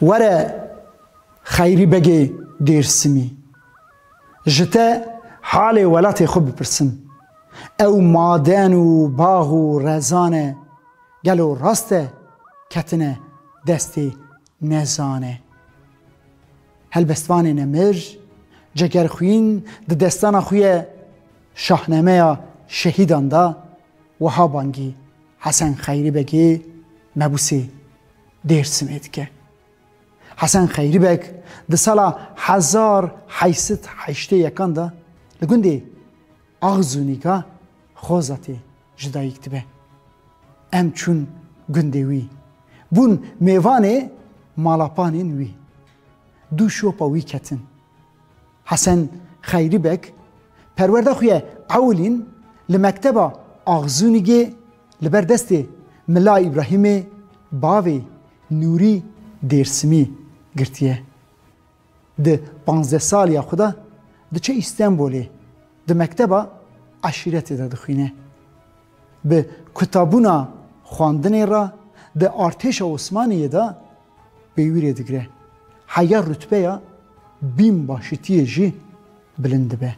Were Xeyrî Begê Dêrsimî, ji te halê welatê xwe bipirsim. Ew maden û bax û rezan e, gelo rast e ketine destê nezan e? Helbestvanê Nemir, Cegerxwîn di destana xwe ye Şahnameya Şehîdan de wiha bangî, Hesen Xeyrî Begê mebûsê Dêrsimê dike. Hesen Xeyrî Beg di sala hezar heysit heştê yekan de li gundê Axzûnîka Xozatê ji dayîk dibe. Em çûn gundê wî. Bûn mêvanê malapanên wî. Du şopa wî ketin. Hesen Xeyrî Beg, perwerda xwe ya ewilîn li mekteba Axzûnigê li ber destê Mela Îbrahîmê bavê Nûrî Dêrsimî girtiye. Di panzdeh saliya xwe de diçe Îstenbolê di mekteba eşîretê de dixwîne. Bi kutabûna xwandinê re di artêşa Osmaniyê de Pê wî rê digire. Heya rutbeya bîn başitiyê jî bilind dibe.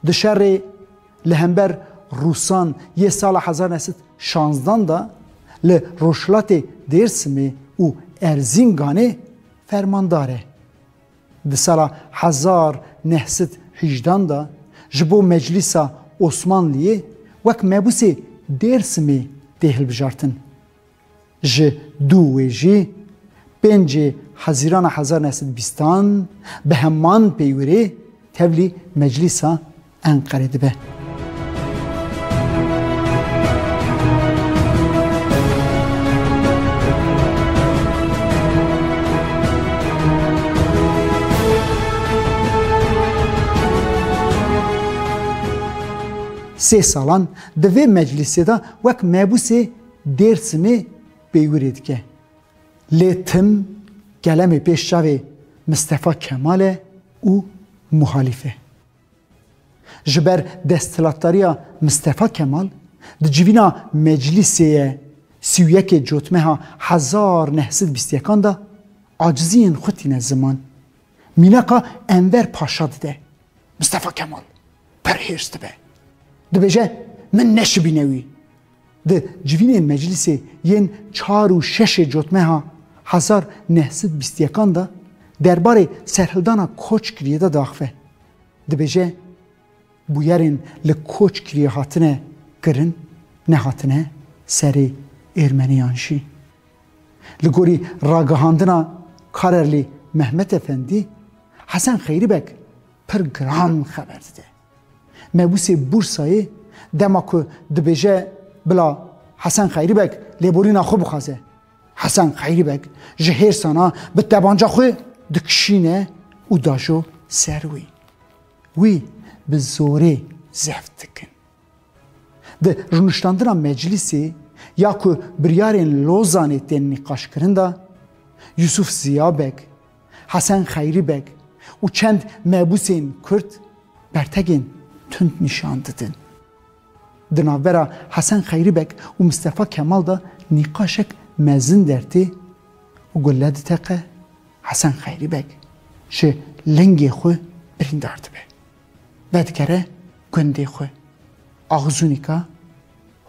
Di şerê li hember Rûsan yê sala hezar neh sed şanzdan de li rojhilatê Dêrsimê û Erzînganê fermandar e. Di sala hezar neh sed hîjdan de ji bo Meclîsa Osmanliyê wek mebûsê Dêrsimê tê hilbijartin. Ji dû wê jî pêncê Hezîrana hezar neh sed û bîstan bi heman peywirê tevlî Meclîsa Enqerê dibe. Sê salan di vê meclîsê de wek mebûsê Dêrsimê peywirê dike. Lê tim kelemê pêş çavê Mistefa Kemal e û muhalîf e. Ji ber desthilatdariya Mistefa Kemal di civîna Meclîsê ye sî û yekê Cotmeha hezar neh sed bîst yekan de aciziyên xwe tîne ziman. Mînaka Enver Paşa dide. Mistefa Kemal pir hêrs dibe. Dibêje min neşibîne wî. Di civînên meclîsê yên çar û şeşê cotmeha hezar neh sed bîst yekan de derbarê serhildana koçkiriyê de diaxive. Dibêje bûyerên li koçkiriyê hatine kirin nehatine serê Êrmeniyan jî. Li gorî ragihandina Karerlî Mehmet Efendî, Hesen Xeyrîbek pir giran xeber dide. Mebûsê Bûrsayê dema ku dibêje bila Hesen Xeyrî Beg lêborîna xwe bixwaze. Hesen Xeyrî Beg ji hêrsana bi tebanca xwe dikişîne û dajo ser wî. Wî bi zorê zeft dikin. Di rûniştandina meclîsê ya ku biryarên Lozanê tên nîqaşkirin de Yusuf Ziya Beg Hesen Xeyrî Beg û çend mebûsên Kurd bertegên tund nîşan didin. Di navbera Hesen Xeyrî Beg û Mistefa Kemal de nîqaşek mezin dertê û gulle diteqe, Hesen Xeyrî Beg ji lingê xwe birîndar dibe. Vedikere gundê xwe Axzûnîka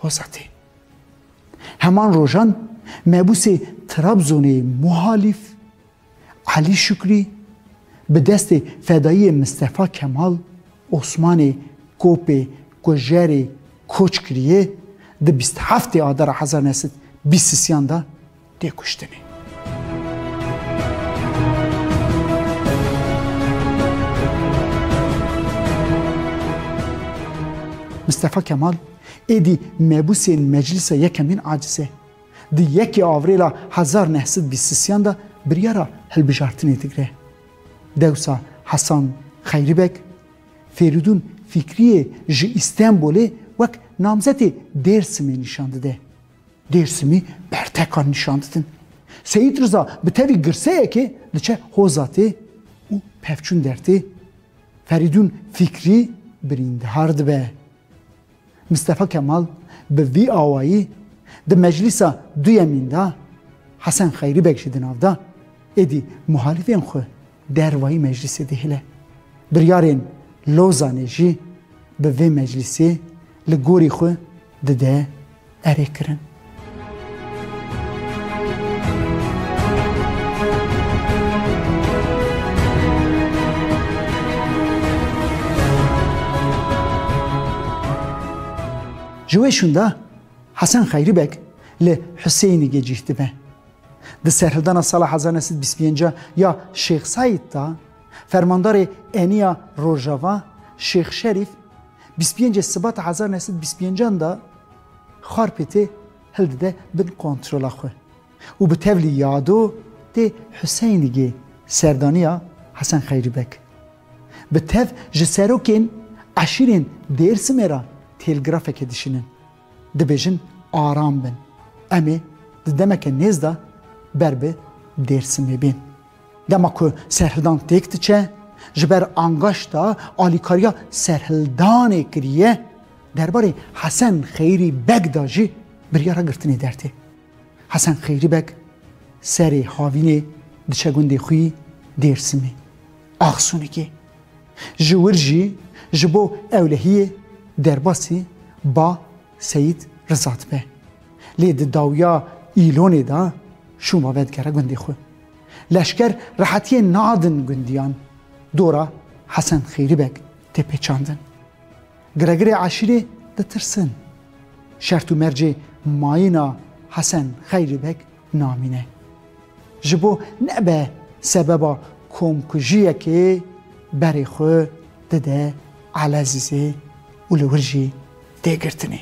Hosatê. Heman rojan mebûsê Trabzonê Muhalîf Elî Şukrî bi destê fedayiyê Mistefa Kemal Osmanê Kopê Kujerê koç kiriye, di bîst heftê Adara hezar neh sed bîst û sîyan de tê kuştinê. Mistefa Kemal êdî mebûsên Meclisa Yekemîn Acizê. Di yekê Avrêla hezar neh sed bîst sisiyan de biryara hilbijartinê digre. Dewsa Hesan Xeyribeg, Fêrîdûn Fîkriyê ji Îstenbolê wek namzetê Dêrsimê nîşan dide. Dêrsimî bertekan nîşan didin. Seyîd Riza bi tevî girseyekê diçe Hozatê û pevçûn dertê. Ferîdûn Fîkrî birîndehar dibe. Mistefa Kemal bi vî awayî di meclîsa duyemîn de Hesen Xeyrî Beg jî di nav de, êdî muhalîfên xwe dervayî meclîsê dihile. Biryarên Lozanê jî bi vê meclîsê li gorî xwe dide. erê kirin. Ji wê şûnda Hesen Xeyrî Beg li Husêynigê cîh dibe. Di serhildana sala hezar neh sed bîst pênc ya Şêx Seîd de fermandarê eniya Rojava Şêx Şerîf Bîst û pêncê Sibata hezar û neh sed û bîst û pêncan de Xarpêtê hildide bin kontrola xwe û bi tevlî ya do tê Huseyinigê serdaniya Hesen Xeyrî Beg. Bi tev ji serokên eşîrên Dêrsimê re têlgrafeke dişînin. Dibêjin aram bin. Em ê di demeke nêz de ber bi Dêrsimê bên. Dema ku serhildan têk diçe, ji ber angaşta alîkariya serhildanê kiriye, derbarê Hesen Xeyrî Beg de jî biryara girtinê der tê. Hesen Xeyrî Beg serê havînê diçe gundê xwî Dêrsimê. Axsûnikê Ji wir jî ji bo ewlehiyê derbasî ba Seyîd Riza dibe. Lê di dawiya Îlonê de şûma vedigere gundê xwe. Leşker rehetiyê nadin gundiyan dora Hesen Xeyrî Beg tê pêçandin. Giregirê eşîrê ditirsin. Şert û mercê mayîna Hesen Xeyrî Beg namîne. Ji bo nebe sebeba komkujiyekê berê xwe dide Elezîzê û li wir jî tê girtinê.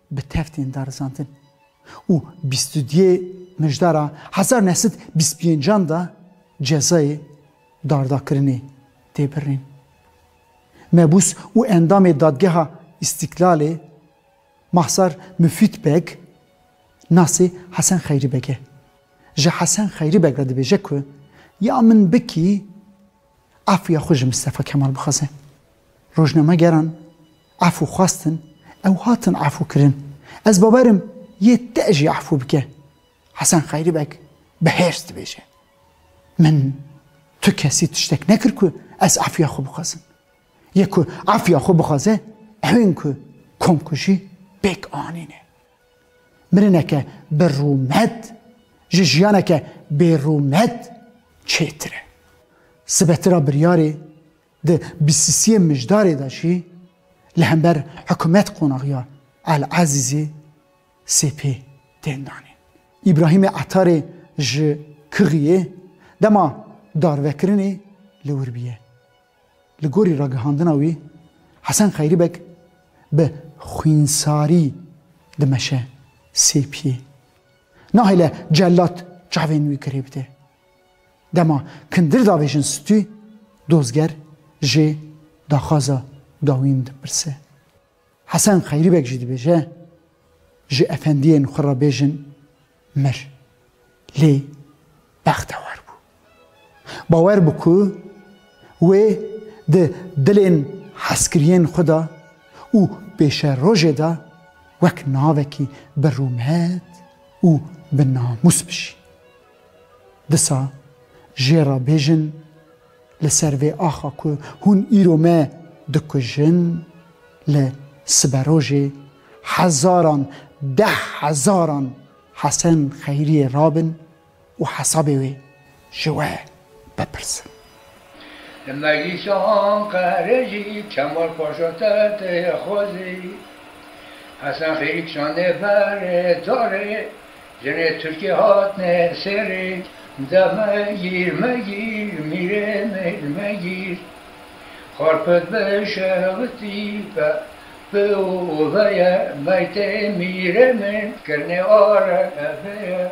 bi tev tên darizandin û bîst û duyê mijdara hezar neh sed bîst pêncan de cezayê dardakirinê tê birîn. Mebûs û endamê Dadgeha Îstîklalê Mahsar Mufîd Beg nasê Hesen Xeyrî Beg e. Ji Hesen Xeyrî Beg re dibêje ku ya min bikî, afûya xwe ji Mistefa Kemal bixwaze. Rojnamegeran Efû xwestin, ew hatin efûkirin. Ez bawer im yê te jî efû bike. Hesen Xeyrî Beg bi hêrs dibêje, Min tu kesî tiştek nekir ku ez efûya xwe bixwazim. Yê ku efûya xwe bixwaze ew ên ku komkujî pêk anîne. Mirineke bi rûmet ji jiyaneke bêrûmet çêtir e. Sibetira biryarê Di bîstisiyê mijdarê de jî li hember hikumet qonaxiya El Ezîzê sê pê tên danîn. Îbrahîmê Etarê ji Kixiyê dema darvekirinê li wir bûye. Li gorî ragihandina wî, Hesen Xeyrîbeg bi xwînsarî dimeşe sê piyê. Nahêle celat çavên wî girê bide. Dema kindir davêjin stû, dozger jê daxwaza dawîn dipirse. Hesen Xeyrî Beg jî dibêje, Ji efendiyên xwe re bêjin mir. Lê bextewar bû. Bawer bû ku wê di dilên hezkiriyên xwe de û pêşerojê de wek navekî bi rûmet û bi namûs bijî. Disa jê re bêjin li ser vê axa ku hûn îro me dikujin, li siberojê hezaran deh hezaran Hesen Xeyriyê rabin û hesabê wê ji we vepirsin. Li Meclîsa Anqerê jî Kemal Paşa Tetê Xwezî, Hesen Xêrî kişandîye ber darê jinê Tirkê hatine serê de Megîr, megîr mîrê min megîr Xarpet bi şewitî be bi oveye Meytê mîrê min kirine arebe ye